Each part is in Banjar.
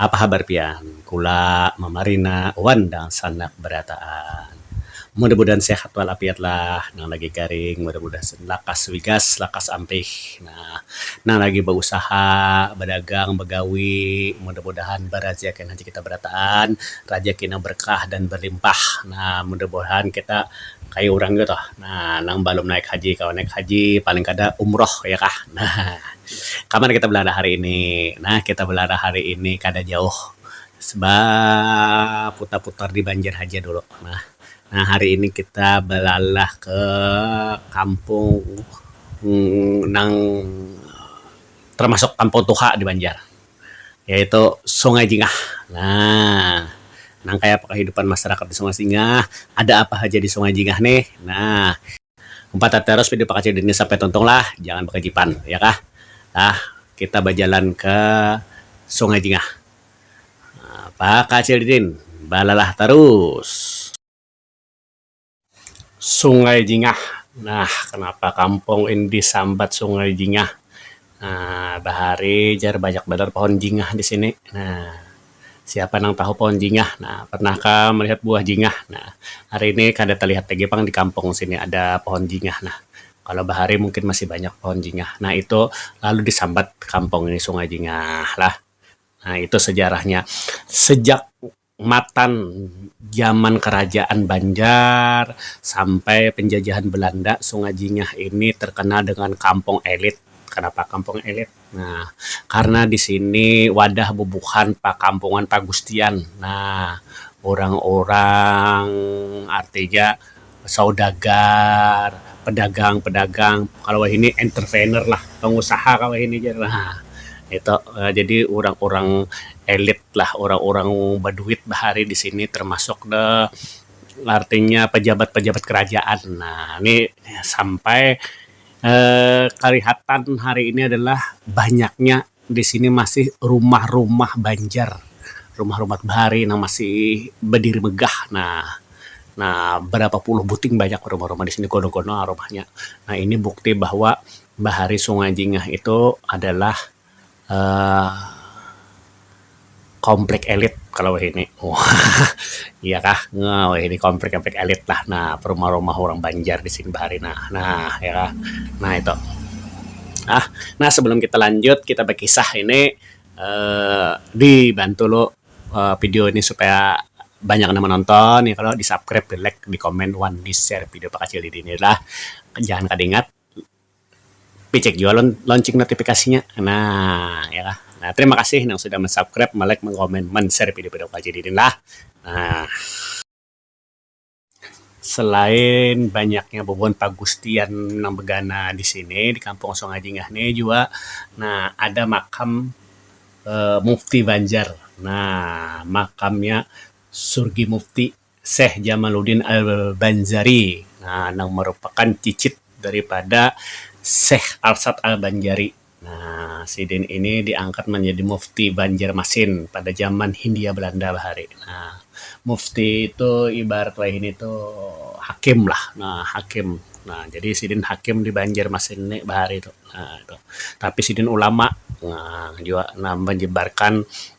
Apa habar pian? Kula mamarina wan dangsanak barataan. Mudah mudahan sehat wal afiat lah. Nang lagi garing mudah mudahan lakas wigas lakas ampih nah. Nang lagi bausaha, badagang, bagawi mudah mudahan barajakian haja kita barataan. Rajaki nang berkah dan berlimpah nah. Mudah mudahan kita kaya urang ngitu tuh nah nang balum naik haji kawa naik haji paling kada umroh ya kah nah. Kaman kita belalah hari ini? Nah, kita belalah hari ini kada jauh ba putar-putar di Banjar haja dulu. Nah, nah hari ini kita belalah ke kampung nang termasuk kampung tuha di Banjar yaitu Sungai Jingah. Nah, nang kayapa kahidupan masyarakat di Sungai Jingah? Ada apa haja di Sungai Jingah nih? Nah. Umpat tatarus pidu pakacil dini sampai tuntung lah, jangan bakajipan, ya kah? Nah, kita bajalan ka sungai jingah. Pakacil didin balalah tarus. Sungai jingah. Nah, kanapa kampung ini disambat sungai jingah? Nah, bahari jar banyak banar pohon jingah di sini. Nah. Siapa nang tahu pohon jingah? Nah, pernah kah melihat buah jingah? Nah, hari ini kada talihat lagi pang di kampung sini ada pohon jingah nah. Kalau bahari mungkin masih banyak pohon jingah. Nah, itu lalu disambat kampung ini Sungai Jingah lah. Nah, itu sejarahnya. Sejak matan zaman kerajaan Banjar sampai penjajahan Belanda, Sungai Jingah ini terkenal dengan kampung elit. Kenapa kampung elit? Nah, karna di sini wadah bubuhan pakampungan pagustian. Nah, urang-urang artinya saudagar, pedagang-pedagang kalau wahini entrepreneur lah, pengusaha kalau wahini jar lah. Nah, itu jadi urang-urang elit lah, urang-urang baduit bahari di sini termasuk ne artinya pejabat-pejabat kerajaan. Nah, ni sampai. Eh, kalihatan hari ini adalah banyaknya di sini masih rumah-rumah banjar, rumah-rumah bahari nang masih badiri megah nah, nah barapa puluh buting banyak rumah-rumah di sini gono-gono rumahnya, nah ini bukti bahwa bahari Sungai Jingah itu adalah. Uh, komplek elit kalau wahini. Iya kah? Nah, wahini komplek-komplek elit lah. Nah, perumah-rumah urang Banjar di sini bahari nah. Nah, iya kah? Nah, itu. Ah, nah sebelum kita lanjut, kita bakisah ini uh, dibantu lo uh, eh, video ini supaya banyak nama nonton ya kalau di subscribe di like di komen wan di share video pakacil ini lah jangan kadingat picek jua lon loncing notifikasinya nah ya kah nah terima kasih nang sudah mensabkrib melek mengkomen menser video video kaji didin lah nah. Selain banyaknya bubuhan pagustian nang begana di sini di kampung sungai jingah ni jua nah ada makam mufti banjar nah makamnya surgi mufti. Syekh Jamaluddin Al-Banjari nah nang marupakan cicit daripada Syekh Arsad Al-Banjari nah sidin ini diangkat manjadi mufti Banjarmasin pada zaman Hindia Belanda bahari nah mufti itu ibarat wahini tu hakim lah nah hakim nah jadi sidin hakim di Banjarmasin ni bahari tu nah itu tapi sidin ulama nah jua nah manyebarkan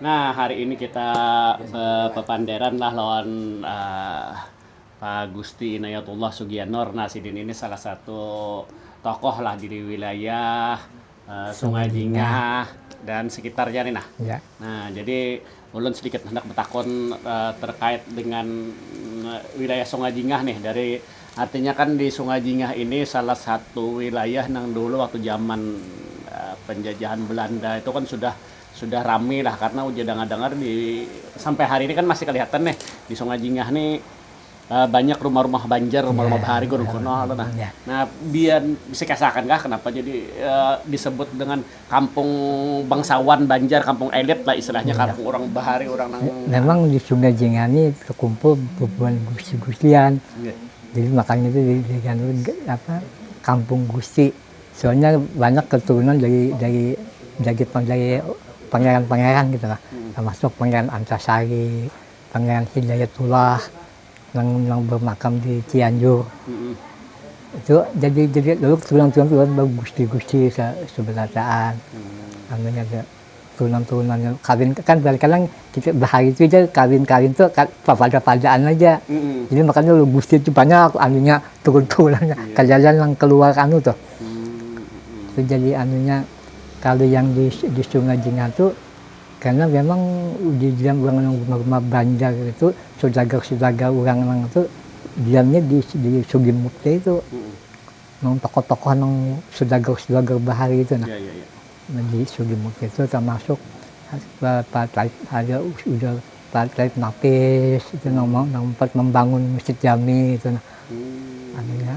Nah, hari ini kita bepapanderan lah lawan uh, Pak Gusti Inayatullah Sugianor. Nah, sidin ini salah satu tokoh lah di wilayah uh, Sungai Jingah dan sekitarnya nih nah. Ya. Nah, jadi ulun sedikit hendak bertakon uh, terkait dengan uh, wilayah Sungai Jingah nih dari Artinya kan di Sungai Jingah ini salah satu wilayah nang dulu waktu zaman penjajahan Belanda itu kan sudah sudah rami lah karena ujar dangar-dangar di sampai hari ini kan masih kelihatan nih di Sungai Jingah ni banyak rumah-rumah Banjar, rumah-rumah bahari kuno-kuno tu nah. Nah, bisa dikisah akan kah kenapa jadi disebut dengan kampung bangsawan banjar, kampung elit lah istilahnya, kampung urang bahari, urang nang. Memang di Sungai Jengah ni terkumpul bubuhan gusti-gustian, jadi makanya tu apa kampung gusti, soalnya banyak keturunan dari dari dari dari pangeran-pangeran gitu lah, termasuk pangeran Antasari, pangeran Hidayatullah. Nang nang bermakam di Cianjur. Hmm. Itu jadi jadi lalu turunan-turunan turunan baru gusti-gusti seberataan. Hmm. Anu nya turunan-turunan yang kawin kan kadang-kadang kita bahari itu aja kawin-kawin tuh pada-padaan aja. Hmm. Jadi makanya lu gusti itu banyak anunya turun-turunannya. Yeah. Kalian yang keluar anu tuh. Hmm. Itu jadi anunya kalau yang di di Sungai Jingah tuh Karena memang di diam urang nang rumah-rumah banjar itu saudagar-saudagar urang nang itu diamnya di di Sugimukti itu. Nang tokoh-tokoh nang saudagar-saudagar bahari itu nah. Ya, ya, ya. Nah, di Sugimukti itu termasuk Pak Taib ada udah Pak Taib Nafis itu nang, nang membangun Masjid Jami itu nah. Hmm. Anunya.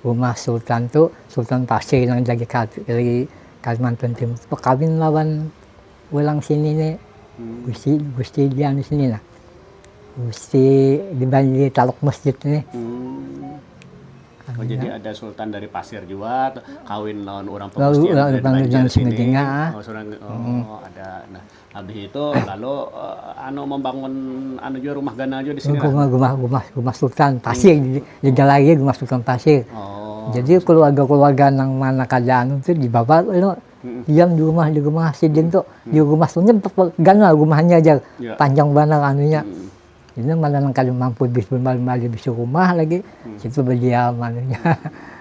Rumah Sultan tu, Sultan Pasir nang jadi kadri Kalimantan Timur bakawin lawan urang sini ni, Gusti Gusti dianu sini nah, Gusti di Taluk Masjid sini. Oh jadi ada Sultan dari Pasir jua kawin lawan urang pagustian dari Banjar sini, oh ada nah. Habis itu lalu uh, anu membangun anu juga rumah ganal juga di sini. Rumah rumah rumah rumah sultan pasir hmm. di dalam lagi rumah sultan pasir. Oh. Jadi keluarga-keluarga nang mana kerjaan itu di bawah lo hmm. diam di rumah di rumah sidin tuh hmm. di rumah sungai ganal rumahnya aja yeah. panjang banget anunya. Hmm. Ini mana nang kada mampu bis bali bisi rumah lagi situ badiam anunya.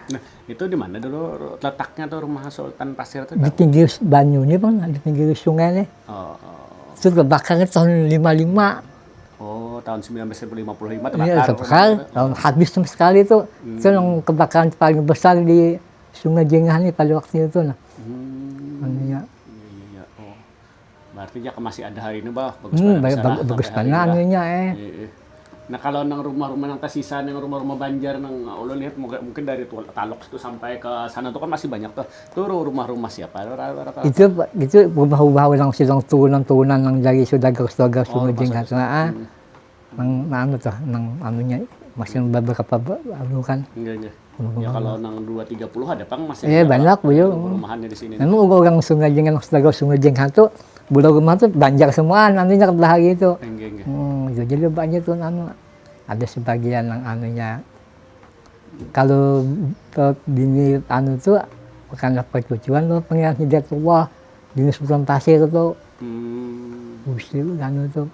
Nah itu dimana dulu letaknya tuh rumah Sultan Pasir tuh? Di pinggir banyu nih bang, di pinggir sungai nih. Oh, oh. Itu terbakarnya tahun 55. Oh tahun 1955 terbakar. Iya terbakar, tahun habis sama sekali tuh. Hmm. Itu yang kebakaran paling besar di Sungai Jengah nih pada waktu itu. Nah. Hmm. Anunya. Berarti jaka masih ada hari ini bah bagus hmm, baik, bagus, bagus banar nya eh. Nah kalau nang rumah-rumah nang tersisa nang rumah-rumah Banjar nang ulun lihat mungkin dari Talok itu sampai ke sana tuh kan masih banyak tuh. Tuh rumah-rumah siapa? Itu itu rumah-rumah orang sidang turunan-turunan nang dari saudagar-saudagar oh, sumajing sana. Ah. Hmm. nang nang anu tuh nang anunya masih beberapa anu kan Enggaknya. Ya kalau nang 230 ada pang masih Iya banyak beliau. Rumahannya di sini. Memang udah orang Sungai Jeng anak saudara Sungai Jeng satu budak rumah tuh banjar semua anunya ke belakang itu. Enggak enggak. Hmm, ya jadi banyak tuh anu. Ada sebagian yang anunya kalau bini anu tuh karena percucuan loh pengiran hidayatullah bini sultan pasir tuh. Hmm. Usil anu tuh.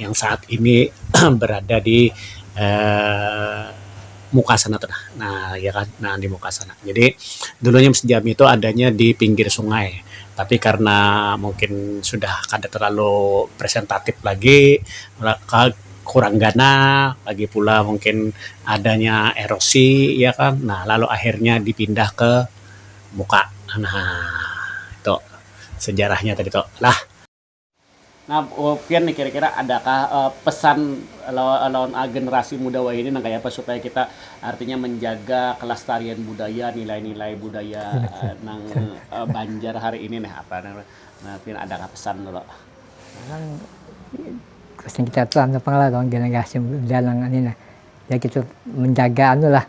yang saat ini berada di Um muka sana tu nah, nah ya kan nah di muka sana. Jadi dulunya Masjid Jami tu adanya di pinggir sungai tapi karna mungkin sudah kada terlalu presentatif lagi kurang ganal lagi pula mungkin adanya erosi ya kan nah lalu akhirnya dipindah ke muka nah itu sejarahnya tadi tu lah. Nah, Pian nih kira-kira adakah pesan lawan generasi muda wahini nang kayapa supaya kita artinya menjaga kelestarian budaya, nilai-nilai budaya nang Banjar hari ini nih apa nang Pian adakah pesan tu Lok? Pesan kita tu anu pang lah lawan generasi muda nang ini nah, ya kita menjaga anu lah.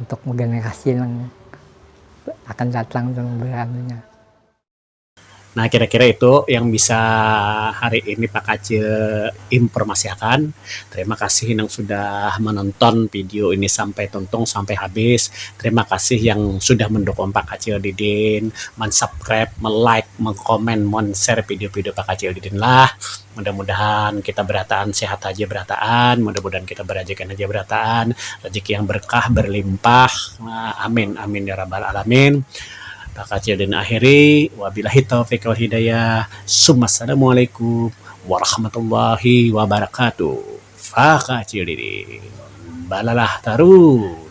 untuk generasi nang akan datang tu nang beranunya. Nah kira-kira itu yang bisa hari ini Pak Kacil informasiakan. Terima kasih nang sudah menonton video ini sampai tuntung, sampai habis. Terima kasih yang sudah mendukung Pak Kacil Didin, men-subscribe, me-like, mengkomen, men-share video-video Pak Kacil Didin lah. mudah mudahan kita berataan sehat haja berataan mudah mudahan kita berajakan haja berataan rajiki yang berkah berlimpah amin amin ya rabal alamin bakacil dina akhiri wabilahi taufik wal hidayah summa assalamualaikum warahmatullahi wabarakatuh bakacil diri balalah tarus.